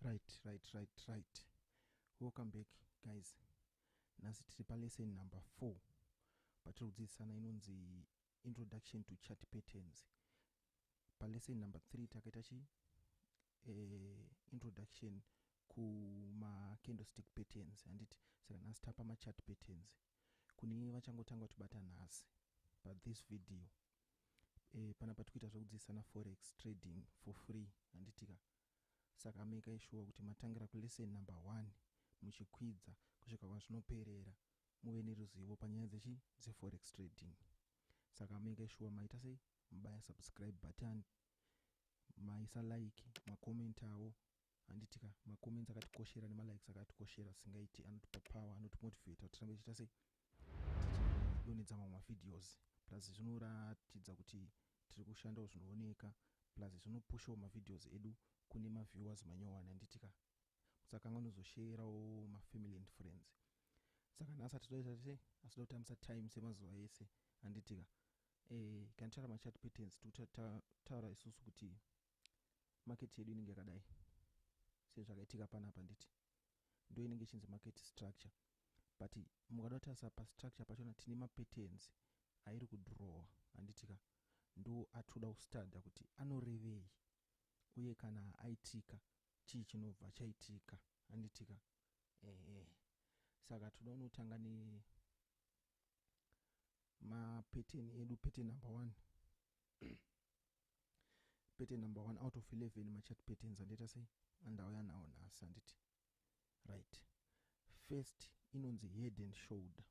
right right right right welcome back guys nhasi tiri palesson number four patiri kudzidzisana inonzi introduction to chat patterns palesson number three takaita chi eh, introduction kumacandlestick patterns handiti saka nhasi tapa machat patterns kune vachangotanga kutibata nhasi but this video e, panapa tikuita zvekudzidzisana forex trading for free handitika saka ameka ishuwa kuti matangira kulesson number one muchikwidza kusvika kwazvinoperera muve neruzivo panyaya dzechi dzeforex trading saka ameka ishuwa maita sei mubaya subscribe button maisa like makomentawo handiti ka macomments akatikoshera nemalikes akatikoshera asingaiti anotipa power anotimotivata kuti tirambe tichiita sei tichidonedza mamwe mavideos plus zvinoratidza kuti tiri kushandawo zvinooneka plus zvinopushawo mavideos edu kune maviewers manyowani handiti ka musakanga unozosheyerawo mafamily and friends saka nhasi atizoita sei asida kutambisa time semazuva ese handiti ka e, eh, kana titaura machat patterns tikutaura isusu kuti market yedu inenge yakadai sezvakaitika panapa handiti ndo inenge ichinzi market structure but mukada kutarisa pastructure pachona tine mapatterns airi kudrowa handitika ndo atinoda kustadha kuti anorevei uye kana aitika chii chinobva chaitika handitika ehe saka tinoda unotanga ne mapattern edu pattern number one pattern number one out of 11 machat patterns andiita sei andauya nawo nhasi anditi right first inonzi head and shoulder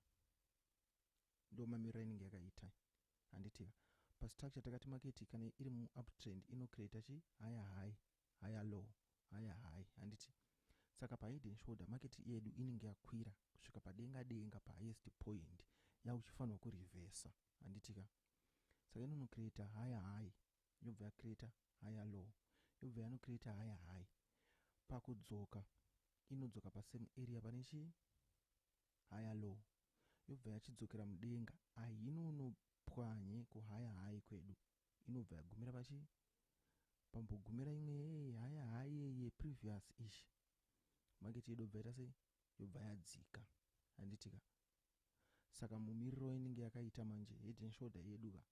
ndo mamirira inenge yakaita handitika pastructure takati maketi kana iri muuptrend inocreata chi haya high haya low haya high handiti saka pahead and shoulder maketi yedu inenge yakwira kusvika padenga denga pahighest point yauchifanirwa kurevesa handitika saka inono creator higher high yobva yacreator higher low yobva yano creator higher high pakudzoka inodzoka pasame area pane chii higher low yobva yachidzokera mudenga ahinonopwanye kuhigher high kwedu inobva yagumira pachii pambogumira imwe yeye haya hayeye previous ish market yedu bva ita sei yobva yadzika handitika saka mumiriro inenge yakaita manje head and shoulder yedu ka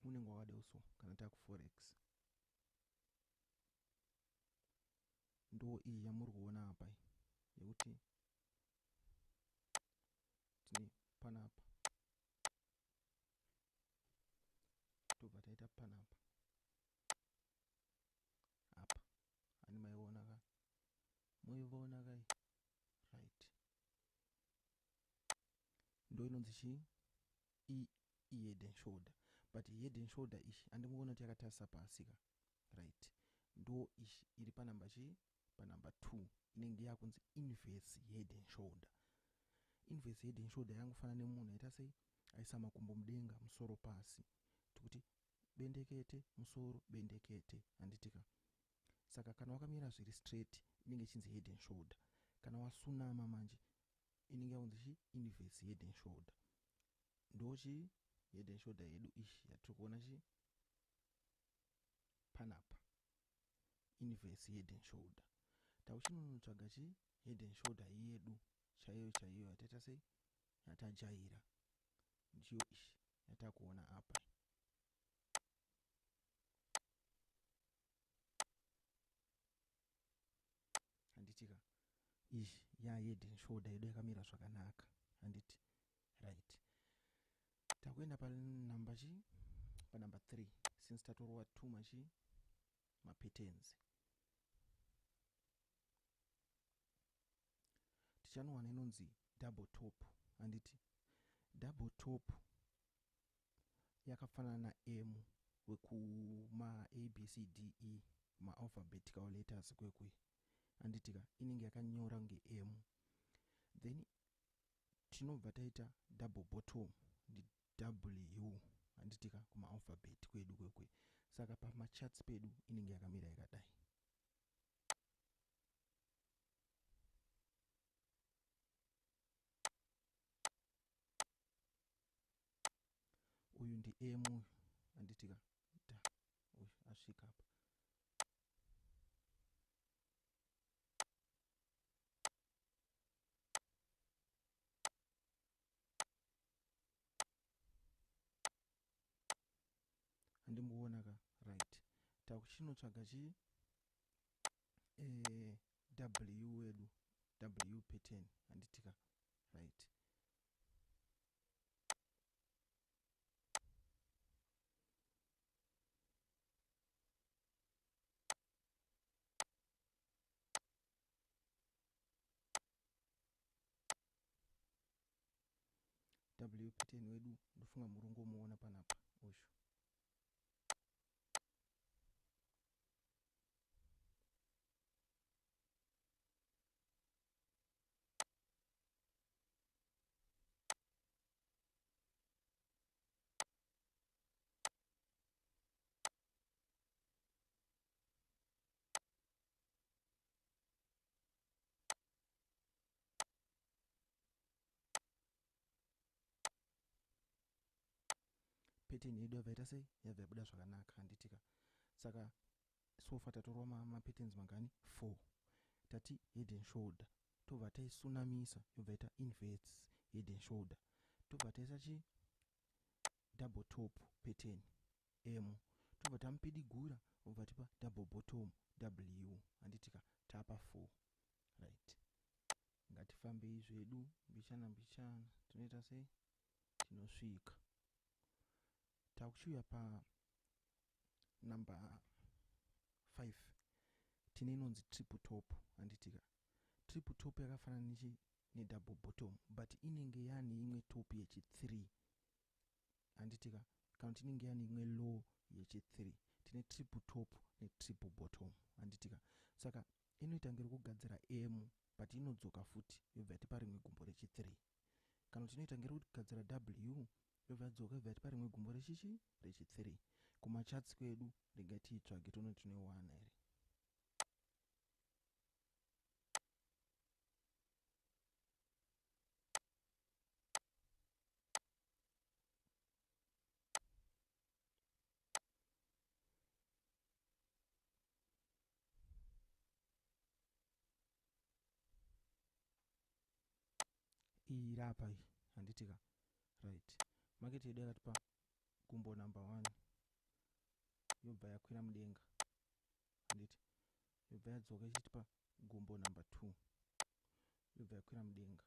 unenge wakadai so kana takuforex ndo iyi yamuri kuona apa iyi yekuti tine panapa tobva taita panapa apa ani maiona ka moivaona kai right ndo inonzi chii ihead and shoulder but head and shoulder ichi andingoona kuti yakatarisa pasi ka right ndo ichi iri panamba chii panamba two inenge yakunzi inverse head and shoulder inverse head and shoulder yangofana nemunhu aita sei aisa makumbo mudenga musoro pasi tikuti bendekete musoro bendekete handitika saka kana wakamira zviri straight inenge ichinzi head and shoulder kana wasunama manje inenge yaunzi chi inverse head and shoulder ndochi head and shoulder yedu ishi yatiri kuona chi panapa inverse head and shoulder tauchinonotsvaga chi head and shoulder yedu chaiyo chaiyo yataita sei yatajaira ndiyo ishi yatakuona apa handiti ka ish ya head and shoulder yedu yakamira zvakanaka handiti right takuenda panumber chi panumber 3 since tatorova two machi mapetenzi tichanowana inonzi double top handiti double top yakafanana na M wekuma ABCDE ma alphabetical letters kwekwe anditika inenge yakanyora kunge M then tinobva taita double bottom ndi W anditika kuma alphabet kwedu kwekwe saka pama charts pedu inenge yakamira yakadai uyu ndi m uyu anditika da uyu asvika apa andimuona ka right takuchinotsvaga chi e, w wedu w pattern anditika right wpt wedu ndofunga muri kungomuona panapa uyu pattern yedu yabva ita sei yabva yabuda zvakanaka handitika saka so far tatorwa ma, ma patterns mangani 4 tati head and shoulder tobva taisunamisa yobva ita inverts head and shoulder tobva taisa chi double top pattern m tobva tamupidigura obva tipa double bottom w handitika tapa 4 right ngatifambei zvedu mbichana mbichana tinoita sei tinosvika takuchiuya pa number 5 tine inonzi triple top handitika triple top yakafanana nechi nedouble bottom but inenge yane imwe top yechi 3 handitika kana kuti inenge yane imwe low yechi 3 tine triple top netriple bottom handitika saka inoita ngere kugadzira m but inodzoka futi yobva yatipa rimwe gumbo rechi 3 Kana kuti inoita ngerokugadzira W yobva yadzoka yobva yatipa rimwe gumbo rechichi rechi 3. Kumachats kwedu regai tiitsvage tione kuti tinoiwana here. iyi iri apa iyi handitika right market yedu yakatipa gumbo number one yobva yakwira mudenga handiti yobva yadzoka ichitipa gumbo number two yobva yakwira mudenga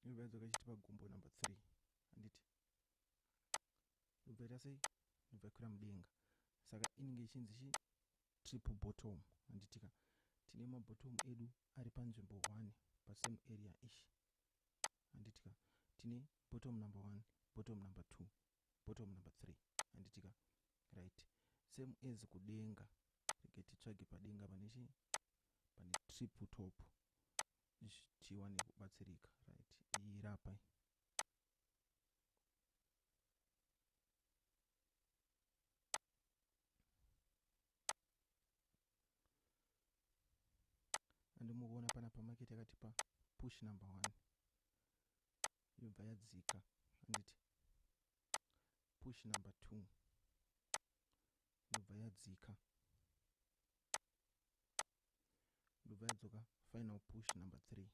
yobva yadzoka ichitipa gumbo number three handiti ndobva ita sei ndobva ikwira mudenga saka inenge ichinzi chi triple bottom handitika tine mabottom edu ari panzvimbo 1 pasame area ish handitika tine bottom number 1 bottom number 2 bottom number 3 handitika right same as kudenga rege titsvage padenga pane chi pane triple top tiwane kubatsirika right iyi rapa andimukuona pana pamaketi yakatipa push number one yobva yadzika anditi push number two yobva yadzika yobva yadzoka final push number three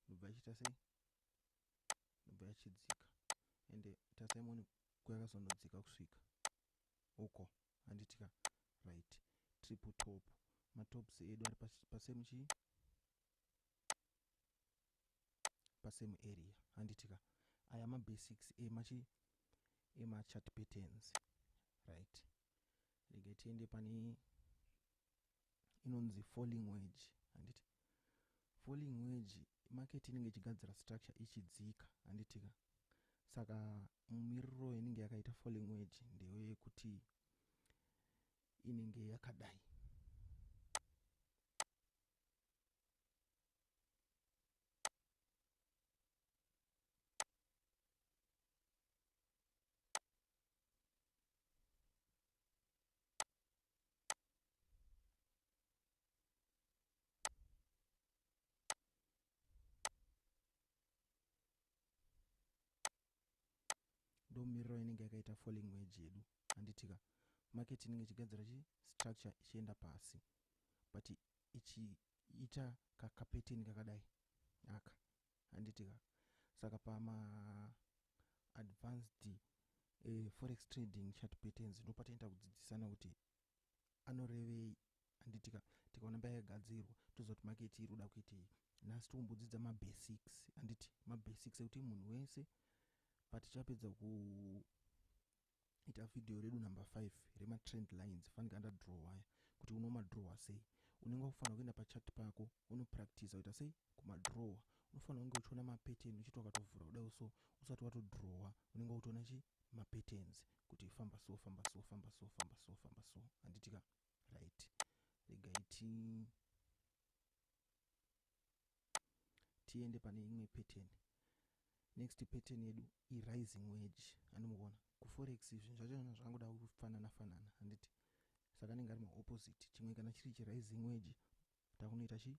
yobva ichiita sei inobva yachidzika ende tarisai muone kwayakazonodzika kusvika uko handitika right triple top matops edu ari pasame chii pasame area handitika aya mabasics emachi emachat patterns right rege tiende pane inonzi falling wage handiti falling wage market inenge ichigadzira structure ichidzika handitika saka mumiriro inenge yakaita falling wage ndeyo yekuti inenge yakadai ndomiriro inenge yakaita falling wage yedu handitika market inenge ichigadzira chi structure ichienda pasi but ichiita kakapetin kakadai aka handiti ka saka pama advanced eh, forex trading chart patterns ndopataita kudzidzisana kuti anorevei handiti ka tikaona mbaya yagadzirwa toziva kuti market iri kuda kuitei nhasi tikumbodzidza mabasics handiti mabasics ekuti munhu wese patichapedza ku ita video redu number 5 rema trend lines fanika anda draw waya kuti uno madrawa sei unenge wakufanira kuenda pachat pako uno practice uita sei kumadrawa unofanira kunge uchiona mapattern uchiti wakatovhura kudai so usati watodrawa unenge wakutoona chi mapatterns kuti famba so famba so famba so famba so famba so handitika right regai ti tiende pane imwe pattern next pattern yedu irising wedge andimuona kuforex zvinhu zvacho zvinhu zvakangoda kufanana fanana handiti saka anenge ari maopposite chimwe kana chiri chirising wedge takunoita chi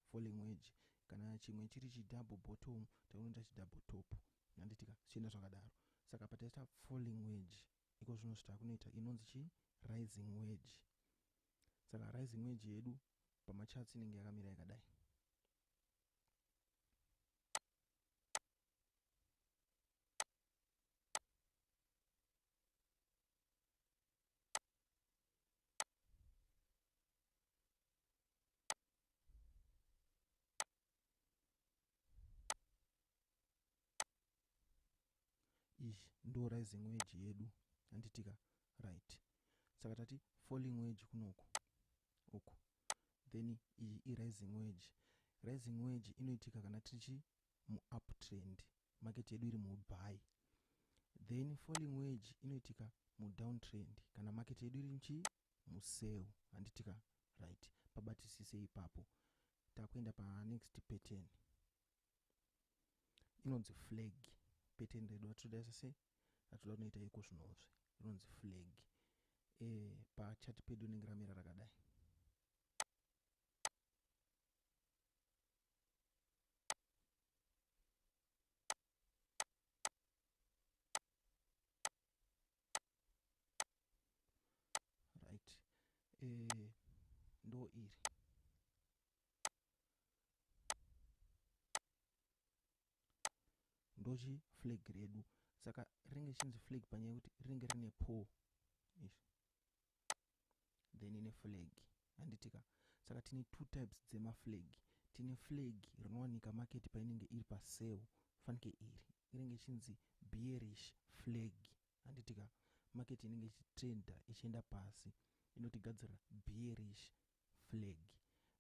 falling wedge kana chimwe chiri chidouble bottom takunoita chidouble top handitika zvichienda zvakadaro saka pataita falling wedge iko zvino zvitakunoita inonzi chi rising wedge Saka rising wage yedu pamacharts inenge yakamira yakadai. ishi ndo rising wage yedu handitika right saka tati falling wage kunoku uku then iyi irising wage rising wage inoitika kana tichi muuptrend market yedu iri mubuy then falling wage inoitika mudowntrend kana market yedu iri nchii museu handiti ka right pabatisise ipapo takuenda panext pattern inonzi flag pattern redu atitoda sese atitoda kunoita iko zvinozve inonzi flag e, eh, pachati pedu inenge ramira rakadai right eh, ndo iri ndochi flag redu saka rinenge chinzi flag panyaya yekuti rinenge rine pole then ine flag handitika saka tine two types dzemaflag tine flag rinowanika market painenge iri pasel fanike iri inenge ichinzi bearish flag handitika market inenge ichitrenda ichienda pasi inotigadzirira bearish flag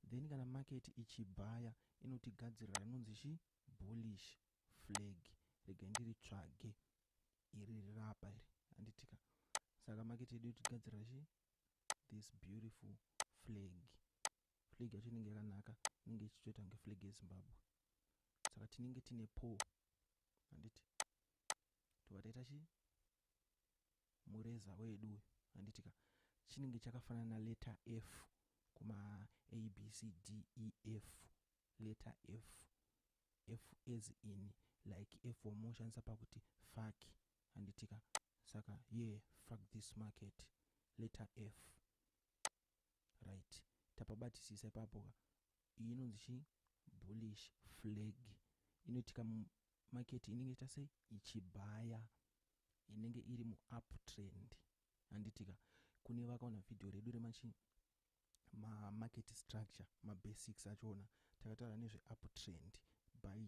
then kana market ichibhaya inotigadzirira inonzi chi bullish flag regai ndiritsvage iri rirapa iri handitika saka maketi yedu yotigadzira chi this beautiful flag flag yacho inenge yakanaka inenge ichitoita kunge flag yezimbabwe saka tinenge tine po handiti tobva taita chii mureza wedu uyu handitika chinenge chakafanana na letter f kuma abcdef letter f f as in like f wamunoshandisa pakuti fak handitika saka ye yeah, fak this market letter f right tapabatisisa ipapo ka iyi inonzi chi bullish flag inoitika market inenge ichita sei ichibhaya inenge iri muuptrend handitika kune vakaona vhidhiyo redu remachii mamarket structure mabasics achona takataura nezveuptrend by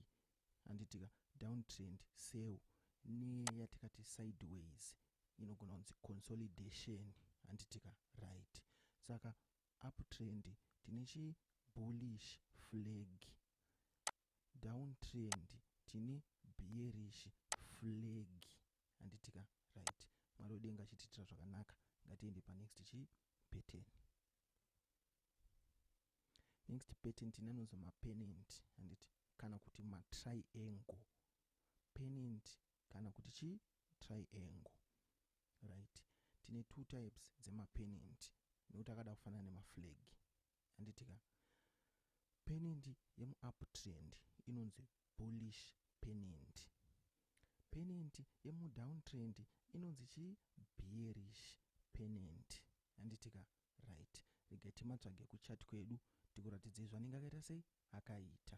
handitika downtrend sell neyatikati sideways inogona kunzi consolidation handitika right saka uptrend tine chibullish flag down trend tine bearish flag handitika right mwari wedenga achitiitira zvakanaka ngatiende panext chi pattern next pattern tine anonzi mapenent handiti kana kuti matriangle penent kana kuti chi triangle right tine two types dzemapenent nekuti akada kufanana nemaflag handitika penendi yemuuptrend inonzi bullish penendi penendi yemudowntrend inonzi chii bearish penendi handitika right regai timatsvage kuchat kwedu tikuratidzei zvanenge akaita sei akaita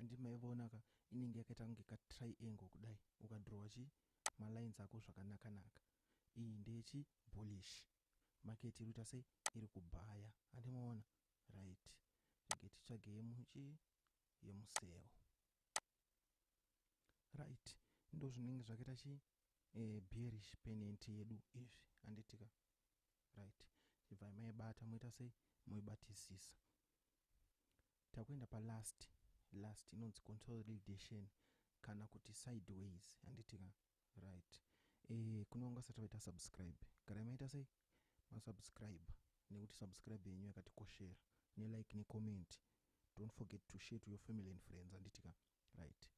handi maivaona ka inenge yakaita kunge katriangle kudai ukadrowa chi malines ako zvakanakanaka iyi ndeyechi bullish market iri kuita sei iri kubhaya handi maona right rege titsvage yemuchi yemuseo right ndozvinenge zvakaita chi eh, bearish pennant yedu izvi anditika right chibvai maibata moita sei moibatisisa takuenda palast last inonzi consolidation kana kuti sideways anditika right eh kune vanga vasati vaita subscribe garai maita sei masubscribe nekuti subscribe yenyu yakatikoshera nelike necomment don't forget to share to your family and friends anditika right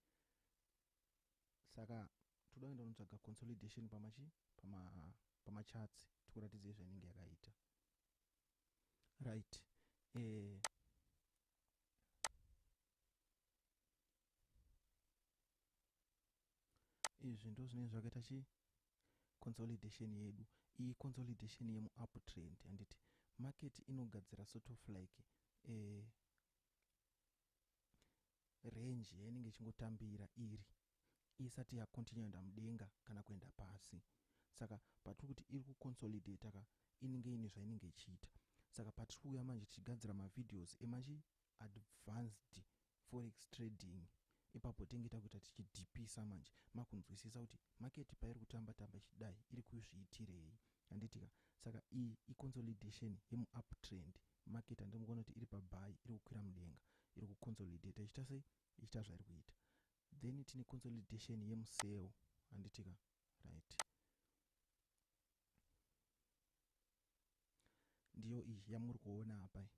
saka toda kuenda unotsvaga consolidation pamachi pama pamachatsi tikuratidza izvo inenge yakaita right eh, izvi ndozvinenge zvakaita chi consolidation yedu iyi consolidation yemuuptrend handiti market inogadzira sort of like a range yainenge ichingotambira iri isati yacontinue enda mudenga kana kuenda pasi saka patiri kuti iri kuconsolidate ka inenge ine zvainenge ichiita saka patiri kuuya manje tichigadzira mavideos emachi advanced forex trading ipapo tenge takuita tichidhipisa manje makunzwisisa kuti market pairi kutamba tamba ichidai iri kuzviitirei handiti ka saka iyi iconsolidation yemuup trend market handiri kuona kuti iri pabuy iri kukwira mudenga iri kuconsolidata ichita sei ichita zvairi kuita then tine consolidation yemuseo handiti ka right Ndiyo iyi yamuri kuona apa iyi.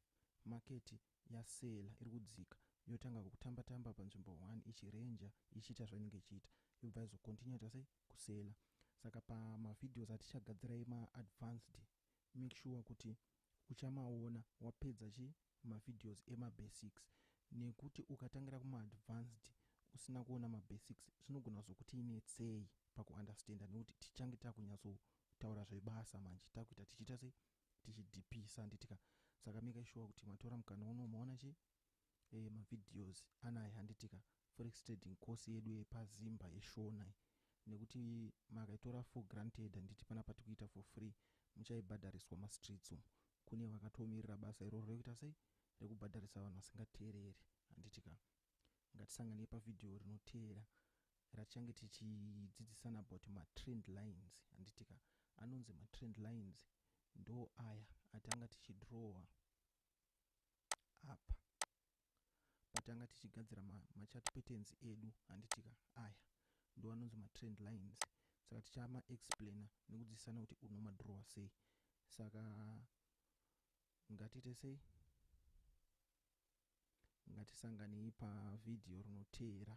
Market yaseller iri kudzika yotanga kutamba tamba panzvimbo one ichi ranger ichiita zvainenge ichiita yobva yazo continue yaita sei kuseller. Saka pama videos atichagadzira ema advanced make sure kuti uchamaona wapedza chii mavideos emabasics nekuti ukatangira kumaadvanced usina kuona mabasics zvinogona kuzokuti netsei pakuunderstander nekuti tichange takunyatsotaura zvebasa manje takuita tichiita sei tichidhipisa handitika saka maker sure kuti matora mukana uno maona chi eh, mavideos anaya handitika forex trading course yedu yepazimba yeshona nekuti makaitora for granted handiti pana patikuita for free muchaibhadhariswa mastreets umu kune vakatomirira basa iroro rekuita sei rekubhadharisa vanhu vasingateereri handiti ka ngatisanganei pavhidhiyo rinoteera ratichange tichidzidzisana about matrend lines handiti ka anonzi matrend lines ndo aya atanga tichidrowa apa patanga tichigadzira machat patterns edu handitika aya ndo anonzi matrend lines saka tichama explainer nekudzidzisana kuti unomadrowa sei saka ngatiite sei ngatisanganei pavhidhiyo rinoteera